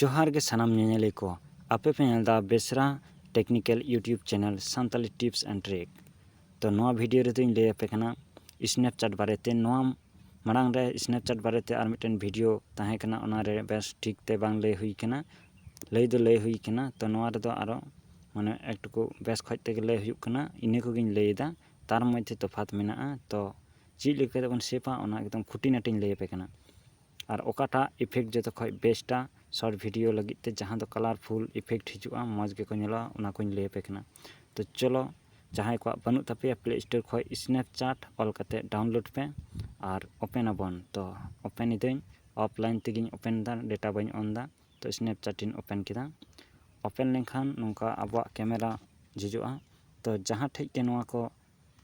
ᱡᱚᱦᱟᱨ ᱜᱮ ᱥᱟᱱᱟᱢ ᱧᱮᱧᱮᱞᱤᱭᱟᱹ ᱠᱚ ᱟᱯᱮ ᱯᱮ ᱧᱮᱞ ᱮᱫᱟ ᱵᱮᱥᱨᱟ technical YouTube channel Santali tips and trick ᱛᱚ ᱱᱚᱣᱟ ᱵᱷᱤᱰᱤᱭᱳ ᱨᱮᱫᱚᱧ ᱞᱟᱹᱭ ᱟᱯᱮ ᱠᱟᱱᱟ ᱥᱱᱮᱯᱪᱮᱴ ᱵᱟᱨᱮᱛᱮ ᱱᱚᱣᱟ ᱢᱟᱲᱟᱝ ᱨᱮ ᱥᱱᱮᱯᱪᱮᱴ ᱵᱟᱨᱮᱛᱮ ᱟᱨ ᱢᱤᱫᱴᱮᱱ ᱵᱷᱤᱰᱤᱭᱳ ᱛᱟᱦᱮᱸ ᱠᱟᱱᱟ ᱚᱱᱟᱨᱮ ᱵᱮᱥ ᱴᱷᱤᱠ ᱛᱮ ᱵᱟᱝ ᱞᱟᱹᱭ ᱦᱩᱭ ᱠᱟᱱᱟ ᱞᱟᱹᱭ ᱫᱚ ᱞᱟᱹᱭ ᱦᱩᱭ ᱠᱟᱱᱟ ᱛᱚ ᱱᱚᱣᱟ ᱨᱮᱫᱚ ᱟᱨᱚ ᱢᱟᱱᱮ ᱮᱠᱴᱩᱠᱩ ᱵᱮᱥ ᱠᱷᱚᱡ ᱛᱮᱜᱮ ᱞᱟᱹᱭ ᱦᱩᱭᱩᱜ ᱠᱟᱱᱟ ᱤᱱᱟᱹ ᱠᱚᱜᱮᱧ ᱞᱟᱹᱭᱮᱫᱟ ᱛᱟᱨ ᱢᱚᱫᱽᱫᱷᱮ ᱛᱚᱯᱷᱟᱛ ᱢᱮᱱᱟᱜᱼᱟ ᱛᱚ ᱪᱮᱫ ᱞᱮᱠᱟ ᱠᱟᱛᱮᱫ ᱵᱚᱱ ᱥᱮᱵᱟ ᱚᱱᱟ ᱮᱠᱫᱚᱢ ᱠᱷᱩᱴᱤᱱᱟᱴᱤᱧ ᱞᱟᱹᱭ ᱟᱯᱮ ᱠᱟᱱᱟ ᱟᱨ ᱚᱠᱟᱴᱟᱜ ᱤᱯᱷᱮᱠᱴ ᱡᱚᱛᱚ ᱠᱷᱚᱡ ᱵᱮᱥᱴᱟ ᱥᱚᱨᱴ ᱵᱷᱤᱰᱤᱭᱳ ᱞᱟᱹᱜᱤᱫ ᱛᱮ ᱡᱟᱦᱟᱸ ᱫᱚ ᱠᱟᱞᱟᱨᱯᱷᱩᱞ ᱤᱯᱷᱮᱠᱴ ᱦᱤᱡᱩᱜᱼᱟ ᱢᱚᱡᱽ ᱜᱮᱠᱚ ᱧᱮᱞᱚᱜᱼᱟ ᱚᱱᱟ ᱠᱚᱧ ᱞᱟᱹᱭ ᱟᱯᱮ ᱠᱟᱱᱟ ᱛᱚ ᱪᱚᱞᱚ ᱡᱟᱦᱟᱸᱭ ᱠᱚᱣᱟᱜ ᱵᱟᱹᱱᱩᱜ ᱛᱟᱯᱮᱭᱟ ᱯᱞᱮ ᱥᱴᱳᱨ ᱠᱷᱚᱡ ᱥᱱᱮᱯᱪᱟᱴ ᱚᱞ ᱠᱟᱛᱮ ᱰᱟᱣᱩᱱᱞᱳᱰ ᱯᱮ ᱟᱨ ᱳᱯᱮᱱ ᱟᱵᱚᱱ ᱛᱚ ᱳᱯᱮᱱ ᱮᱫᱟᱹᱧ ᱚᱯᱷ ᱞᱟᱭᱤᱱ ᱛᱮᱜᱮᱧ ᱳᱯᱮᱱ ᱮᱫᱟ ᱰᱮᱴᱟ ᱵᱟᱹᱧ ᱳᱱ ᱮᱫᱟ ᱛᱚ ᱥᱱᱮᱯᱪᱟᱴ ᱤᱧ ᱳᱯᱮᱱ ᱠᱮᱫᱟ ᱳᱯᱮᱱ ᱞᱮᱱᱠᱷᱟᱱ ᱱᱚᱝᱠᱟ ᱟᱵᱚᱣᱟᱜ ᱠᱮᱢᱮᱨᱟ ᱡᱷᱤᱡᱚᱜᱼᱟ ᱛᱚ ᱡᱟᱦᱟᱸ ᱴᱷᱮᱡ ᱜᱮ ᱱᱚᱣᱟ ᱠᱚ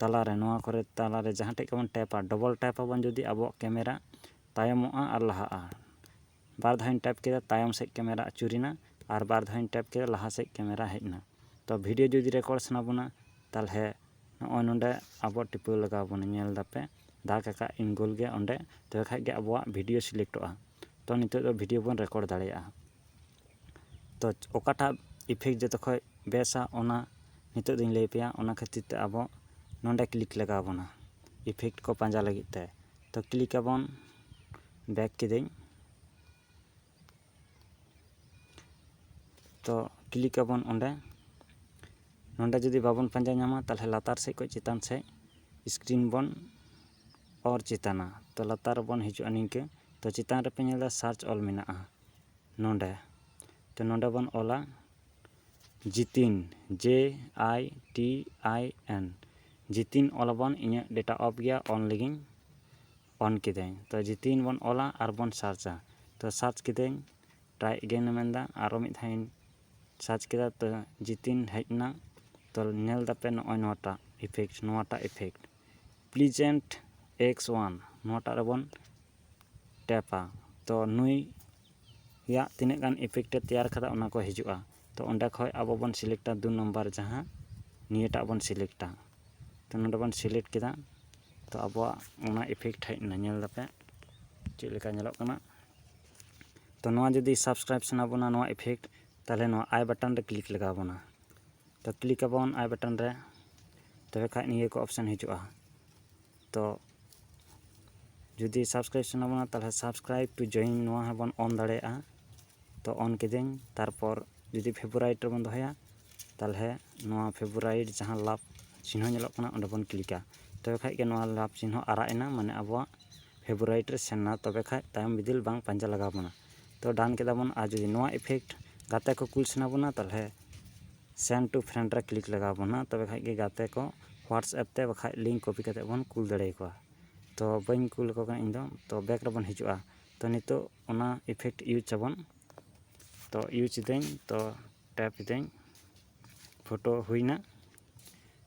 ᱛᱟᱞᱟᱨᱮ ᱱᱚᱣᱟ ᱠᱚᱨᱮ ᱛᱟᱞᱟᱨᱮ ᱡᱟᱦᱟᱸ ᱴᱷᱮᱱ ᱜᱮᱵᱚᱱ ᱴᱮᱯᱟ ᱰᱚᱵᱚᱞ ᱴᱮᱯ ᱟᱵᱚᱱ ᱡᱩᱫᱤ ᱟᱵᱚᱣᱟᱜ ᱠᱮᱢᱮᱨᱟ ᱛᱟᱭᱚᱢᱚᱜᱼᱟ ᱟᱨ ᱞᱟᱦᱟᱜᱼᱟ ᱵᱟᱨ ᱫᱷᱟᱣᱤᱧ ᱴᱮᱯ ᱠᱮᱫᱟ ᱛᱟᱭᱚᱢ ᱥᱮᱫ ᱠᱮᱢᱮᱨᱟ ᱟᱹᱪᱩᱨᱮᱱᱟ ᱟᱨ ᱵᱟᱨ ᱫᱷᱟᱣᱤᱧ ᱴᱮᱯ ᱠᱮᱫᱟ ᱞᱟᱦᱟ ᱥᱮᱫ ᱠᱮᱢᱮᱨᱟ ᱦᱮᱡ ᱮᱱᱟ ᱛᱚ ᱵᱷᱤᱰᱭᱳ ᱡᱩᱫᱤ ᱨᱮᱠᱚᱨᱰ ᱥᱟᱱᱟ ᱵᱚᱱᱟ ᱛᱟᱦᱚᱞᱮ ᱱᱚᱜᱼᱚᱭ ᱱᱚᱰᱮ ᱟᱵᱚ ᱴᱤᱯᱟᱹᱣ ᱞᱟᱜᱟᱣ ᱵᱚᱱᱟ ᱧᱮᱞ ᱫᱟᱯᱮ ᱫᱟᱜᱽ ᱟᱠᱟᱫ ᱤᱧ ᱜᱳᱞ ᱜᱮ ᱚᱸᱰᱮ ᱛᱚᱵᱮ ᱠᱷᱟᱱ ᱜᱮ ᱟᱵᱚᱣᱟᱜ ᱵᱷᱤᱰᱭᱳ ᱥᱤᱞᱮᱠᱴᱚᱜᱼᱟ ᱛᱚ ᱱᱤᱛᱚᱜ ᱫᱚ ᱵᱷᱤᱰᱭᱳ ᱵᱚᱱ ᱨᱮᱠᱚᱨᱰ ᱫᱟᱲᱮᱭᱟᱜᱼᱟ ᱛᱚ ᱚᱠᱟᱴᱟᱜ ᱤᱯᱷᱮᱠᱴ ᱡᱚᱛᱚ ᱠᱷᱚᱡ ᱵᱮᱥᱟ ᱚᱱᱟ ᱱᱤᱛᱚᱜ ᱫᱚᱧ ᱞᱟᱹᱭ ᱟᱯᱮᱭᱟ ᱚᱱᱟ ᱠᱷᱟᱹᱛᱤᱨ ᱛᱮ ᱟᱵᱚ ᱱᱚᱰᱮ ᱠᱞᱤᱠ ᱞᱟᱜᱟᱣ ᱵᱚᱱᱟ ᱤᱯᱷᱮᱠᱴ ᱠᱚ ᱯᱟᱸᱡᱟ ᱞᱟᱹᱜᱤᱫ ᱛᱮ ᱛᱚ ᱠᱞᱤᱠ ᱟᱵᱚᱱ ᱵᱮᱠ ᱠᱤᱫᱟᱹᱧ ᱛᱚ ᱠᱞᱤᱠ ᱟᱵᱚᱱ ᱚᱸᱰᱮ ᱱᱚᱰᱮ ᱡᱩᱫᱤ ᱵᱟᱵᱚᱱ ᱯᱟᱸᱡᱟ ᱧᱟᱢᱟ ᱛᱟᱦᱚᱞᱮ ᱞᱟᱛᱟᱨ ᱥᱮᱫ ᱠᱷᱚᱡ ᱪᱮᱛᱟᱱ ᱥᱮᱫ ᱥᱠᱨᱤᱱ ᱵᱚᱱ ᱚᱨ ᱪᱮᱛᱟᱱᱟ ᱛᱚ ᱞᱟᱛᱟᱨ ᱨᱮᱵᱚᱱ ᱦᱤᱡᱩᱜᱼᱟ ᱱᱤᱝᱠᱟᱹ ᱛᱚ ᱪᱮᱛᱟᱱ ᱨᱮᱯᱮ ᱧᱮᱞᱫᱟ ᱥᱟᱨᱪ ᱚᱞ ᱢᱮᱱᱟᱜᱼᱟ ᱱᱚᱰᱮ ᱛᱚ ᱱᱚᱰᱮ ᱵᱚᱱ ᱚᱞᱟ ᱡᱤᱛᱤᱱ ᱡᱮ ᱟᱭ ᱴᱤ ᱟᱭ ᱮᱱ ᱡᱤᱛᱤᱱ ᱚᱞᱟᱵᱚᱱ ᱤᱧᱟᱹᱜ ᱰᱮᱴᱟ ᱚᱯᱷ ᱜᱮᱭᱟ ᱚᱱ ᱞᱟᱹᱜᱤᱫ ᱚᱱ ᱠᱤᱫᱟᱹᱧ ᱛᱚ ᱡᱤᱛᱤᱱ ᱵᱚᱱ ᱚᱞᱟ ᱟᱨ ᱵᱚᱱ ᱥᱟᱨᱪᱟ ᱛᱚ ᱥᱟᱨᱪ ᱠᱤᱫᱟᱹᱧ ᱴᱨᱟᱭ ᱮᱜᱮᱱ ᱮ ᱢᱮᱱᱫᱟ ᱟᱨᱚ ᱢᱤᱫ ᱫᱷᱟᱣ ᱤᱧ ᱥᱟᱨᱪ ᱠᱮᱫᱟ ᱛᱚ ᱡᱤᱛᱤᱱ ᱦᱮᱡ ᱮᱱᱟ ᱛᱚ ᱧᱮᱞ ᱫᱟᱯᱮ ᱱᱚᱜᱼᱚᱭ ᱱᱚᱣᱟᱴᱟᱜ ᱤᱯᱷᱮᱠᱴ ᱱᱚᱣᱟᱴᱟᱜ ᱤᱯᱷᱮᱠᱴ ᱯᱞᱤᱡᱮᱱᱴ ᱮᱠᱥ ᱚᱣᱟᱱ ᱱᱚᱣᱟᱴᱟᱜ ᱨᱮᱵᱚᱱ ᱴᱮᱯᱟ ᱛᱚ ᱱᱩᱭ ᱭᱟᱜ ᱛᱤᱱᱟᱹᱜ ᱜᱟᱱ ᱤᱯᱷᱮᱠᱴ ᱮ ᱛᱮᱭᱟᱨ ᱟᱠᱟᱫᱟ ᱚᱱᱟ ᱠᱚ ᱦᱤᱡᱩᱜᱼᱟ ᱛᱚ ᱚᱸᱰᱮ ᱠᱷᱚᱱ ᱟᱵᱚ ᱵᱚᱱ ᱥᱤᱞᱮᱠᱴᱟ ᱫᱩ ᱱᱟᱢᱵᱟᱨ ᱡᱟᱦᱟᱸ ᱱᱤᱭᱟᱹᱴᱟᱜ ᱵᱚᱱ ᱥᱤᱞᱮᱠᱴᱟ ᱛᱚ ᱱᱚᱸᱰᱮ ᱵᱚᱱ ᱥᱤᱞᱮᱠᱴ ᱠᱮᱫᱟ ᱛᱚ ᱟᱵᱚᱣᱟᱜ ᱚᱱᱟ ᱤᱯᱷᱮᱠᱴ ᱦᱮᱡ ᱮᱱᱟ ᱧᱮᱞ ᱮᱫᱟᱯᱮ ᱪᱮᱫ ᱞᱮᱠᱟ ᱧᱮᱞᱚᱜ ᱠᱟᱱᱟ ᱛᱚ ᱱᱚᱣᱟ ᱡᱩᱫᱤ ᱥᱟᱵᱥᱠᱨᱟᱭᱤᱵᱽ ᱥᱟᱱᱟ ᱵᱚᱱᱟ ᱱᱚᱣᱟ ᱤᱯᱷᱮᱠᱴ ᱛᱟᱦᱚᱞᱮ ᱱᱚᱣᱟ ᱟᱭ ᱵᱟᱴᱚᱱ ᱨᱮ ᱠᱞᱤᱠ ᱞᱟᱜᱟᱣ ᱵᱚᱱᱟ ᱛᱚ ᱠᱞᱤᱠ ᱟᱵᱚᱱ ᱟᱭ ᱵᱟᱴᱚᱱ ᱨᱮ ᱛᱚᱵᱮ ᱠᱷᱟᱱ ᱱᱤᱭᱟᱹ ᱠᱚ ᱚᱯᱥᱮᱱ ᱦᱤᱡᱩᱜᱼᱟ ᱛᱚ ᱡᱩᱫᱤ ᱥᱟᱵᱥᱠᱨᱟᱭᱤᱵᱽ ᱥᱟᱱᱟ ᱵᱚᱱᱟ ᱛᱟᱦᱚᱞᱮ ᱥᱟᱵᱥᱠᱨᱟᱭᱤᱵᱽ ᱴᱩ ᱡᱚᱭᱮᱱ ᱱᱚᱣᱟ ᱦᱚᱸᱵᱚᱱ ᱚᱱ ᱫᱟᱲᱮᱭᱟᱜᱼᱟ ᱛᱚ ᱚᱱ ᱠᱤᱫᱟᱹᱧ ᱛᱟᱨᱯᱚᱨ ᱡᱩᱫᱤ ᱯᱷᱮᱵᱚᱨᱟᱭᱤᱴ ᱨᱮᱵᱚᱱ ᱫᱚᱦᱚᱭᱟ ᱛᱟᱦᱚᱞᱮ ᱱᱚᱣᱟ ᱯᱷᱮᱵᱚᱨᱟᱭᱤᱴ ᱡᱟᱦᱟᱸ ᱞᱟᱵᱷ ᱪᱤᱱᱦᱟᱹ ᱧᱮᱞᱚᱜ ᱠᱟᱱᱟ ᱚᱸᱰᱮ ᱵᱚᱱ ᱠᱞᱤᱠᱟ ᱛᱚᱵᱮ ᱠᱷᱟᱱ ᱜᱮ ᱱᱚᱣᱟ ᱞᱟᱵᱷ ᱪᱤᱱᱦᱟᱹ ᱟᱨᱟᱜ ᱮᱱᱟ ᱢᱟᱱᱮ ᱟᱵᱚᱣᱟᱜ ᱯᱷᱮᱵᱚᱨᱟᱭᱤᱴ ᱨᱮ ᱥᱮᱱ ᱮᱱᱟ ᱛᱚᱵᱮ ᱠᱷᱟᱱ ᱛᱟᱭᱚᱢ ᱵᱤᱫᱟᱹᱞ ᱵᱟᱝ ᱯᱟᱸᱡᱟ ᱞᱟᱜᱟᱣ ᱵᱚᱱᱟ ᱛᱚ ᱰᱟᱱ ᱠᱮᱫᱟ ᱵᱚᱱ ᱟᱨ ᱡᱩᱫᱤ ᱱᱚᱣᱟ ᱤᱯᱷᱮᱠᱴ ᱜᱟᱛᱮ ᱠᱚ ᱠᱩᱞ ᱥᱟᱱᱟ ᱵᱚᱱᱟ ᱛᱟᱦᱚᱞᱮ ᱥᱮᱱᱰ ᱴᱩ ᱯᱷᱨᱮᱱᱰ ᱨᱮ ᱠᱞᱤᱠ ᱞᱟᱜᱟᱣ ᱵᱚᱱᱟ ᱛᱚᱵᱮ ᱠᱷᱟᱱ ᱜᱮ ᱜᱟᱛᱮ ᱠᱚ ᱦᱳᱣᱟᱴᱥᱮᱯ ᱛᱮ ᱵᱟᱠᱷᱟᱡ ᱞᱤᱝᱠ ᱠᱚᱯᱤ ᱠᱟᱛᱮᱫ ᱵᱚᱱ ᱠᱩᱞ ᱫᱟᱲᱮ ᱟᱠᱚᱣᱟ ᱛᱚ ᱵᱟᱹᱧ ᱠᱩᱞ ᱟᱠᱚ ᱠᱟᱱᱟ ᱤᱧᱫᱚ ᱛᱚ ᱵᱮᱠ ᱨᱮᱵᱚᱱ ᱦᱤᱡᱩᱜᱼᱟ ᱛᱚ ᱱᱤᱛᱚᱜ ᱚᱱᱟ ᱤᱯᱷᱮᱠᱴ ᱤᱭᱩᱡᱽ ᱟᱵᱚᱱ ᱛᱚ ᱤᱭᱩᱡᱽ ᱮᱫᱟᱹᱧ ᱛᱚ ᱴᱮᱯ ᱮᱫᱟᱹᱧ ᱯᱷᱳᱴᱳ ᱦᱩᱭᱱᱟ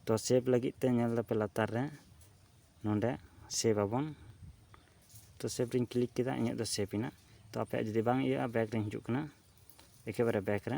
ᱛᱚ ᱥᱮᱵᱽ ᱞᱟᱹᱜᱤᱫ ᱛᱮ ᱧᱮᱞ ᱮᱫᱟᱯᱮ ᱞᱟᱛᱟᱨ ᱨᱮ ᱱᱚᱰᱮ ᱥᱮᱵᱽ ᱟᱵᱚᱱ ᱛᱚ ᱥᱮᱵᱽ ᱨᱤᱧ ᱠᱞᱤᱠ ᱠᱮᱫᱟ ᱤᱧᱟᱹᱜ ᱫᱚ ᱥᱮᱵᱽ ᱮᱱᱟ ᱛᱚ ᱟᱯᱮᱭᱟᱜ ᱡᱩᱫᱤ ᱵᱟᱝ ᱤᱭᱟᱹᱜᱼᱟ ᱵᱮᱠ ᱨᱤᱧ ᱦᱤᱡᱩᱜ ᱠᱟᱱᱟ ᱮᱠᱮᱵᱟᱨᱮ ᱵᱮᱠ ᱨᱮ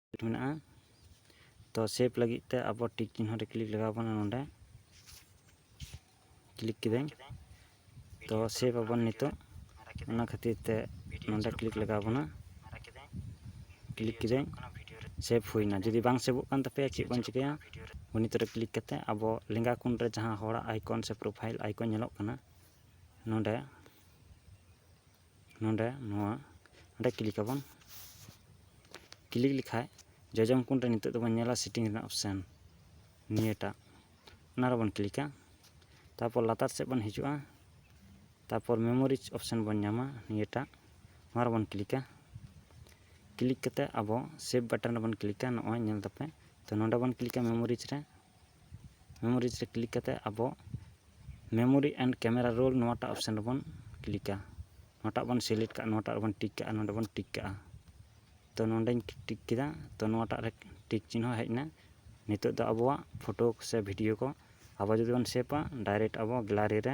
ᱢᱮᱱᱟᱜᱼᱟ ᱛᱚ ᱥᱮᱵᱷ ᱞᱟᱹᱜᱤᱫ ᱛᱮ ᱟᱵᱚ ᱴᱤᱠ ᱪᱤᱱᱦᱚ ᱨᱮ ᱠᱞᱤᱠ ᱞᱟᱜᱟᱣ ᱵᱚᱱᱟ ᱱᱚᱸᱰᱮ ᱠᱞᱤᱠ ᱠᱤᱫᱟᱹᱧ ᱛᱚ ᱥᱮᱵᱷ ᱟᱵᱚᱱ ᱱᱤᱛᱚᱜ ᱚᱱᱟ ᱠᱷᱟᱹᱛᱤᱨ ᱛᱮ ᱱᱚᱸᱰᱮ ᱠᱞᱤᱠ ᱞᱟᱜᱟᱣ ᱵᱚᱱᱟ ᱠᱞᱤᱠ ᱠᱤᱫᱟᱹᱧ ᱥᱮᱵᱷ ᱦᱩᱭᱱᱟ ᱡᱩᱫᱤ ᱵᱟᱝ ᱥᱮᱵᱷᱚᱜ ᱠᱟᱱ ᱛᱟᱯᱮᱭᱟ ᱪᱮᱫ ᱵᱚᱱ ᱪᱤᱠᱟᱹᱭᱟ ᱜᱩᱱᱤᱛ ᱨᱮ ᱠᱞᱤᱠ ᱠᱟᱛᱮ ᱟᱵᱚ ᱞᱮᱸᱜᱟ ᱠᱚᱱ ᱨᱮ ᱡᱟᱦᱟᱸ ᱦᱚᱲᱟᱜ ᱟᱭᱠᱚᱱ ᱥᱮ ᱯᱨᱚᱯᱷᱟᱭᱤᱞ ᱟᱭᱠᱚᱱ ᱧᱮᱞᱚᱜ ᱠᱟᱱᱟ ᱱᱚᱸᱰᱮ ᱱᱚᱰᱮ ᱱᱚᱣᱟ ᱱᱚᱰᱮ ᱠᱞᱤᱠ ᱟᱵᱚᱱ ᱠᱞᱤᱠ ᱞᱮᱠᱷᱟᱡ ᱡᱚᱡᱚᱢ ᱠᱚᱬ ᱨᱮ ᱱᱤᱛᱚᱜ ᱫᱚᱵᱚᱱ ᱧᱮᱞᱟ ᱥᱮᱴᱤᱝ ᱨᱮᱱᱟᱜ ᱚᱯᱥᱮᱱ ᱱᱤᱭᱟᱹᱴᱟᱜ ᱚᱱᱟ ᱨᱮᱵᱚᱱ ᱠᱞᱤᱠᱟ ᱛᱟᱨᱯᱚᱨ ᱞᱟᱛᱟᱨ ᱥᱮᱫ ᱵᱚᱱ ᱦᱤᱡᱩᱜᱼᱟ ᱛᱟᱨᱯᱚᱨ ᱢᱮᱢᱳᱨᱤ ᱚᱯᱥᱮᱱ ᱵᱚᱱ ᱧᱟᱢᱟ ᱱᱤᱭᱟᱹᱴᱟᱜ ᱱᱚᱣᱟ ᱨᱮᱵᱚᱱ ᱠᱞᱤᱠᱟ ᱠᱞᱤᱠ ᱠᱟᱛᱮᱫ ᱟᱵᱚ ᱥᱮᱵᱷ ᱵᱟᱴᱚᱱ ᱨᱮᱵᱚᱱ ᱠᱞᱤᱠᱟ ᱱᱚᱜᱼᱚᱭ ᱧᱮᱞ ᱫᱟᱯᱮ ᱛᱳ ᱱᱚᱰᱮ ᱵᱚᱱ ᱠᱞᱤᱠᱟ ᱢᱮᱢᱳᱨᱤ ᱨᱮ ᱢᱮᱢᱳᱨᱤᱡᱽ ᱨᱮ ᱠᱞᱤᱠ ᱠᱟᱛᱮᱫ ᱟᱵᱚ ᱢᱮᱢᱳᱨᱤ ᱮᱱᱰ ᱠᱮᱢᱮᱨᱟ ᱨᱳᱞ ᱱᱚᱣᱟᱴᱟᱜ ᱚᱯᱷᱥᱮᱱ ᱨᱮᱵᱚᱱ ᱠᱞᱤᱠᱟ ᱱᱚᱣᱟᱴᱟᱜ ᱵᱚᱱ ᱥᱤᱞᱮᱠᱴ ᱠᱟᱜᱼᱟ ᱱᱚᱣᱟᱴᱟᱜ ᱨᱮᱵᱚᱱ ᱴᱤᱠ ᱠᱟᱜᱼᱟ ᱱᱚᱰᱮ ᱵᱚᱱ ᱴᱤᱠ ᱠᱟᱜᱼᱟ ᱛᱳ ᱱᱚᱰᱮᱧ ᱴᱤᱠ ᱠᱮᱫᱟ ᱛᱳ ᱱᱚᱣᱟᱴᱟᱜ ᱨᱮ ᱴᱤᱠ ᱪᱤᱱᱦᱟᱹ ᱦᱮᱡ ᱮᱱᱟ ᱱᱤᱛᱚᱜ ᱫᱚ ᱟᱵᱚᱣᱟᱜ ᱯᱷᱳᱴᱳ ᱥᱮ ᱵᱷᱤᱰᱤᱭᱳ ᱠᱚ ᱟᱵᱚ ᱡᱩᱫᱤ ᱵᱚᱱ ᱥᱮᱵᱷᱟ ᱰᱟᱭᱨᱮᱠᱴ ᱟᱵᱚ ᱜᱮᱞᱟᱨᱤ ᱨᱮ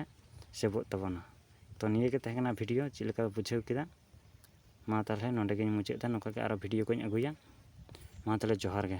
ᱥᱮᱵᱷᱚᱜ ᱛᱟᱵᱚᱱᱟ ᱛᱳ ᱱᱤᱭᱟᱹᱜᱮ ᱛᱟᱦᱮᱸ ᱠᱟᱱᱟ ᱵᱷᱤᱰᱤᱭᱳ ᱪᱮᱫ ᱞᱮᱠᱟ ᱯᱮ ᱵᱩᱡᱷᱟᱹᱣ ᱠᱮᱫᱟ ᱢᱟ ᱛᱟᱦᱚᱞᱮ ᱱᱚᱰᱮ ᱜᱤᱧ ᱢᱩᱪᱟᱹᱫ ᱮᱫᱟ ᱱᱚᱝᱠᱟᱜᱮ ᱟᱨᱚ ᱵᱷᱤᱰᱤᱭᱳ ᱠᱚᱧ ᱟᱹᱜᱩᱭᱟ ᱢᱟ ᱛᱟᱦᱚᱞᱮ ᱡᱚᱦᱟᱨ ᱜᱮ